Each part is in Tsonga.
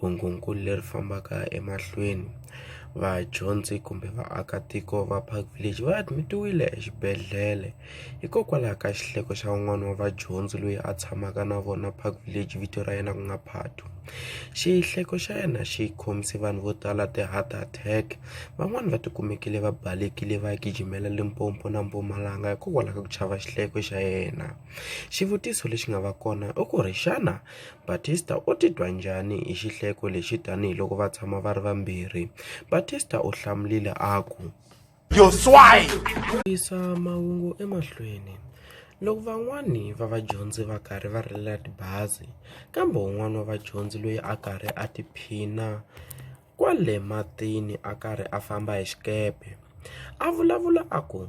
Hungukulu leri fambaka emahlweni, vadyondzi kumbe vaakatiko va Park Village va admit-iwile exibedhlele hikokwalaho ka xihleko xa un'wana wa vadyondzi loyi a tshamaka na vona Park Village vito ra yena ku nga Phathu. Xihleko xa yena xi khomise vanhu vo tala ti-heart attack, van'wani va ti kumekile va balekile va ya gijimela Limpopo na Mpumalanga hikokwalaho ka ku chava xihleko xa yena. Xivutiso lexi nga va kona i ku ri xana. Batista u titwa njhani hi xihleko lexi tanihi loko va tshama va ri vambirhi? Batista u hlamulile a ku, Yo swai! Yisa mahungu emahlweni. Loko van'wana va vadyondzi va karhi va rilela tibazi, kambe un'wana wa vadyondzi loyi a karhi a tiphina kwale matini a karhi a famba hi xikepe a vulavula a ku,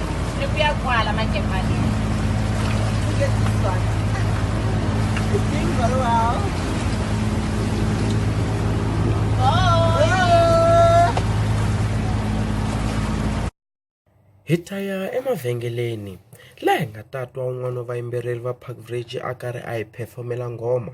Nikuyagwala manje mali. It's doing very well. hi ta ya emavhengeleni laha hi nga ta twa un'wana wa vayimbeleri va park bridge a karhi a hi phefomela nghoma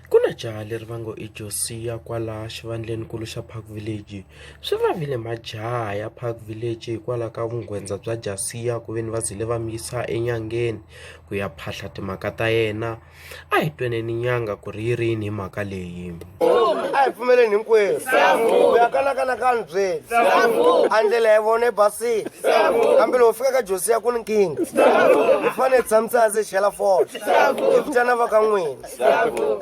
Ku na jaha leri va ngo i Josiya kwala xivandlenikulu xa Park Village. Swi vavile majaha ya Park Village hikwalaho ka vunghwendza bya Jasiya ku ve ni va zile va mi yisa enyangeni ku ya phahla timhaka ta yena. A hi tweneni nyanga ku ri yi ri yini hi mhaka leyi. A hi pfumeleni hinkwerhu ku ya kanakanakanyi byeli a ndlela ya vona yi basile kambe loko fika ka Josiya ku ni nkingha hi fanele hi tshamise hansi hi chela fole hi vitana va ka n'wina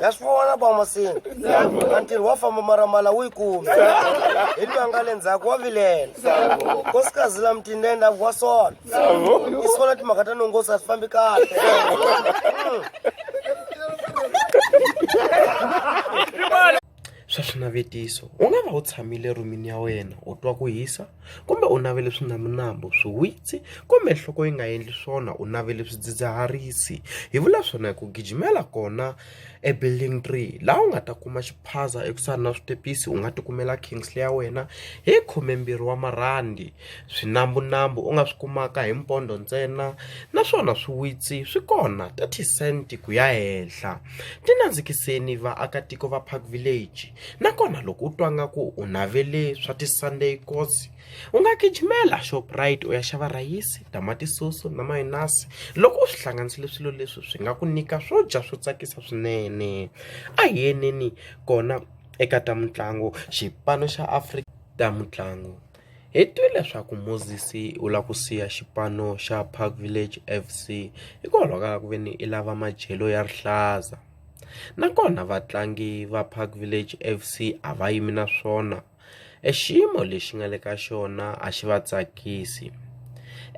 ya swi vona bamasini a ntirho wa famba maramala wu yi kume hi lwa nga le ndzhaku wa vilela nkosikazi la mutindende a vuwa sona i sona timhaka ta nongosi a swi fambi kahle hmm. swa swinavetiso u nga va u tshamile rhumini ya wena u twa ku hisa kumbe u navele swinaminambo swiwitsi kumbe nhloko yi nga endli swona u navele swidzidziharisi hi vula swona hi ku gijimela kona e building three laha u nga ta kuma xiphaza ekusuhani na switepisi u nga ti kumela kingsley ya wena hi khumembirhi wa marhandi. Swinambunambu u nga swi kumaka hi mpondo ntsena naswona swiwitsi swi kona 30 cent ku ya henhla. Tinandzikiseni vaakatiko va Park Village nakona loko u twa nga ku u navele swa ti Sunday kos u nga gijimela Shoprite u ya xava rhayisi, tamatisoso na mayonasi loko u swi hlanganisile swilo leswi swi nga ku nyika swo dya swo tsakisa swinene. A hi yeni kona eka ta mitlangu xipano xa Afrika ta mitlangu. Hi twe leswaku Moses u lava ku siya xipano xa Park Village FC hikwalaho ka ku ve ni i lava madyelo ya rihlaza nakona vatlangi va Park Village FC a va yimi na swona e xiyimo lexi nga le ka xona a xi va tsakisi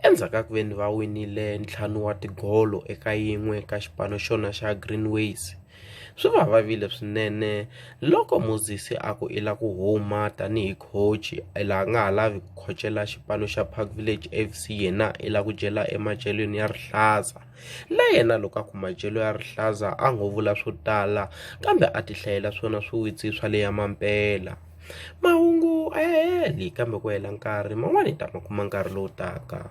endzhaku ka ku ve ni va winile ntlhanu wa tigolo eka yin'we ka xipano xona xa Green Waves. Swi va vavile swinene loko Mosesi a ku i la ku huma tanihi coach i la nga ha lavi ku khocela xipano xa Park Village F_C yena i la ku dyela emadyelweni ya rihlaza na yena loko a ku madyelo ya rihlaza a ngo vula swo tala kambe a ti hlayela swona swiwitsi swa le ya mampela mahungu a ya heli kambe ku hela nkarhi man'wani hi ta ma kuma nkarhi lowu taka.